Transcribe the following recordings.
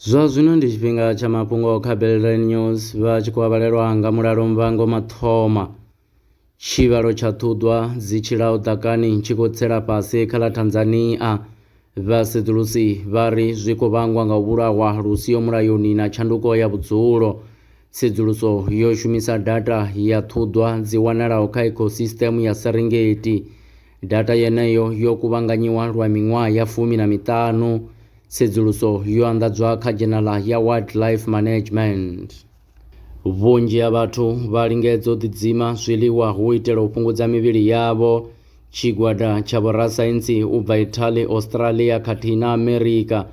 zwa zwino ndi tshifhinga tsha mafhungo kha belrad news vha tshi khou avhalelwa nga mulalo mvango mathoma tshivhalo tsha ṱhuḓwa dzi tshilaho ḓakani tshi khou tsela fhasi kha ḽa tanzania vhasedzulusi vha ri zwi khou vhangwa nga u vhulahwa lu siho mulayoni na tshanduko ya vhudzulo tsedzuluso yo shumisa data ya ṱhuḓwa dzi wanalaho kha ecosystem ya serengeti Data yeneyo yo kuvhanganyiwa lwa miṅwaha ya fumi na miṱanu. Tsedzuluso yo anḓadzwa kha dzhenala ya Wildlife Management. Vhunzhi ha vhathu vha lingedza u ḓidzima zwiḽiwa hu u itela u fhungudza mivhili yavho. Tshigwada tsha vhorasaintsi u bva Italy, Australia khathihi na Amerika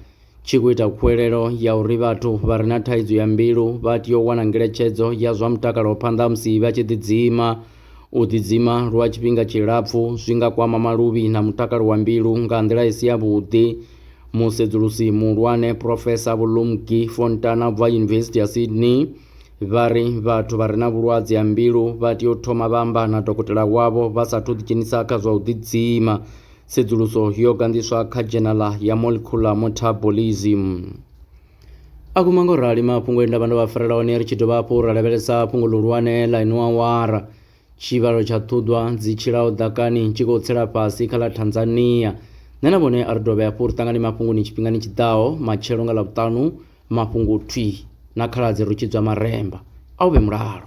tshi khou ita khuwelelo ya uri vhathu vha re na thaidzo ya mbilu vha tea u wana ngeletshedzo ya zwa mutakalo phanḓa ha musi vha tshi ḓidzima. U ḓidzima lwa tshifhinga tshilapfu zwi nga kwama maluvhi na mutakalo wa mbilu nga nḓila i si yavhuḓi. Musedzulusi muhulwane Profesa Vhulumki Fontana bva Yunivesithi ya Sydney vha ri vhathu vha re na vhulwadze ha mbilu vha tea u thoma vha amba na dokotela wavho vha sa thu ḓidzhenisa kha zwa u ḓidzima. Tsedzuluso yo gandiswa kha dzhenala ya molecular metabolism. A guma nga u rali mafhungo e nda vha ndo vha farela one ri tshi dovha hafhu ra lavhelesa fhungo ḽihulwane ḽa ino awara. Tshivhalo tsha ṱhuḓwa dzi tshilaho ḓakani tshi khou tsela fhasi kha ḽa Tanzania. Nṋe na vhone a ri dovhe hafhu ri ṱangane mafhungoni tshifhingani tshi ḓaho matshelo nga ḽavhuṱanu mafhungo thwi na khaladzi ri tshi dzwa maremba. A u vhe mulalo.